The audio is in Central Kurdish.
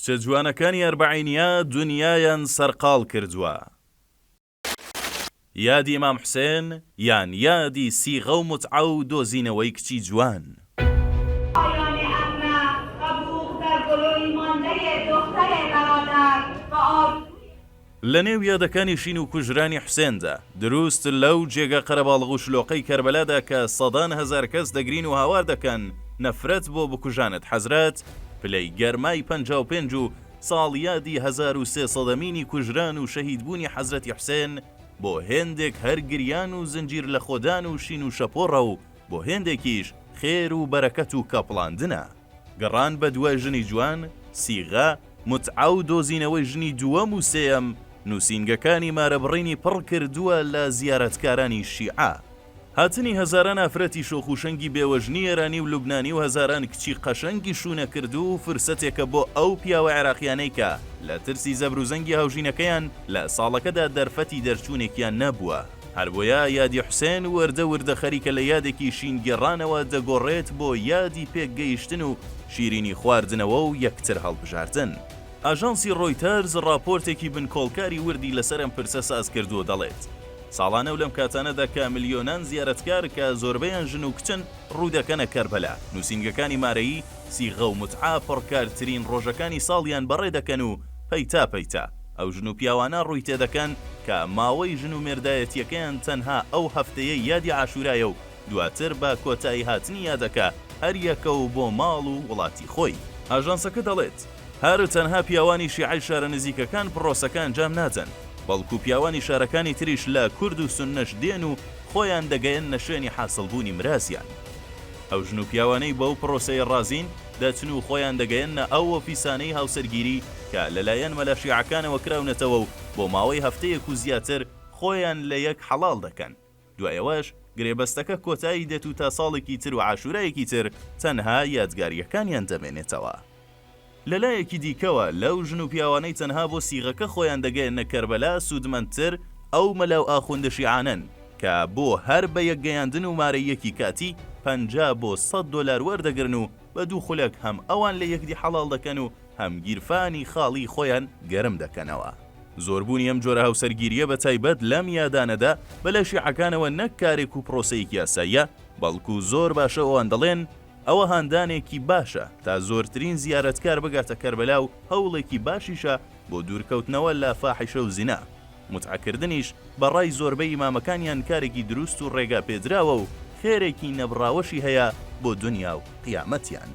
کچە جوانەکانی ئەربەعینیا دونیایان سەرقاڵ کردوە. یادی ئیمام حوسێن یان یادی سیغە و موتعە و دۆزینەوەی کچی جوان. پایانی ئەمە بە بووغ دەرگۆلۆی ماندەێ دۆختەێ بەرادەر بە ئارزووی. لە نێو یادەکانی شین و کوژرانی حوسێندا، دروست لەو جێگە قەرەباڵغ و شلۆقەی کەربەلادا کە سەدان هەزار کەس دەگرین و هاوار دەکەن نەفرەت بۆ بکوژانت حەزرەت، پلەی گەرمای پەنجا و پێنج و ساڵیادی هەزار و سێ سەدەمینی کوژران و شەهیدبوونی حەزرەتی حوسێن بۆ هێندێک هەر گریان و زنجیر لەخۆدان و شین و شەپۆڕە و بۆ هێندێکیش خێر و بەرەکەت و کەپڵاندنە. گەڕان بە دوای ژنی جوان، سیغە، متعە و دۆزینەوەی ژنی دووەم و سێیەم، نووسینگەکانی مارەبڕینی پڕ کردووە لە زیارەتکارانی شیعە. هاتنی هەزاران ئافرەتی شۆخ و شەنگی بێوەژنی ئێرانی و لوبنانی و هەزاران کچی قەشەنگی شوونەکردوو فرسەتێکە بۆ ئەو پیاوە عێراقییانەی کە لە ترسی زەبروزەنگی هاوژینەکەیان لە ساڵەکەدا دەرفەتی دەرچوونێکیان نەبووە. هەربۆیە یادی حوسێن وردە وردە خەریکە لە یادێکی شینگێڕانەوە دەگۆڕێت بۆ یادی پێکگەیشتن و شیرینی خواردنەوە و یەکتر هەڵبژاردن. ئاژانسی ڕۆیتەرز ڕاپۆرتێکی بنکۆڵکاری وردی لەسەر ئەم پرسە سازکردووە و دەڵێت، ساڵانە و لەم کاتانەدا کە ملیۆنان زیارەتکار کە زۆربەیان ژن و کچن ڕوودەکەنە کەربەلا، نووسینگەکانی مارەیی، سیغە و متعە پڕکارترین ڕۆژەکانی ساڵیان بەڕێدەکەن و پەیتا پەیتا. ئەو ژن و پیاوانە ڕووی تێدەکەن کە ماوەی ژن و مێردایەتییەکەیان تەنها ئەو هەفتەیەی یادی عاشورایە و دواتر بە کۆتاییهاتنی یادەکە هەریەکەو بۆ ماڵ و وڵاتی خۆی. ئاژانسەکە دەڵێت، هەر تەنها پیاوانی شیعەی شارە نزیکەکان پڕۆسەکە ئەنجام نادەن، بەڵکو پیاوانی شارەکانی تریش لە کورد و سوننەش دێن و خۆیان دەگەیەننە شوێنی حاسڵبوونی مرازیان. ئەو ژن و پیاوانەی بەو پڕۆسەیە ڕازین، دەچن و خۆیان دەگەیەننە ئەو ئۆفیسانەی هاوسەرگیری کە لەلایەن مەلا شیعەکانەوە کراونەتەوە و بۆ ماوەی هەفتەیەک و زیاتر خۆیان لە یەک حەڵاڵ دەکەن دوای ئەوەش گرێبەستەکە کۆتایی دێت و تا ساڵێکی تر و عاشورایەکی تر تەنها یادگاریەکانیان دەمێنێتەوە. لەلایەکی دیکەوە لەو ژن و پیاوانەی تەنها بۆ سیغەکە خۆیان دەگەیەننە کەربەلا سوودمەندتر ئەو مەلا و ئاخوندە شیعانەن، کە بۆ هەر بە یەک گەیاندن و مارەییەکی کاتی پەنجا بۆ سەد دۆلار وەردەگرن و بە دوو خولەک هەم ئەوان لە یەکدی حەڵاڵ دەکەن و هەم گیرفانی خاڵی خۆیان گەرم دەکەنەوە. زۆربوونی ئەم جۆرە هاوسەرگیرییە بە تایبەت لەم یادانەدا بە لای شیعەکانەوە نەک کارێک و پرۆسەیەکی یاساییە، بەڵکو زۆر باشە ئەوان دەڵێن، ئەوە هاندانێکی باشە تا زۆرترین زیارەتکار بگاتە کەربەلا و هەوڵێکی باشیشە بۆ دوورکەوتنەوە لە فاحیشە و زینا. موتعە کردنیش بە ڕای زۆربەی ئیمامەکانیان کارێکی دروست و ڕێگا پێدراوە و خێرێکی نەبڕاوەشی هەیە بۆ دونیا و قیامەتیان.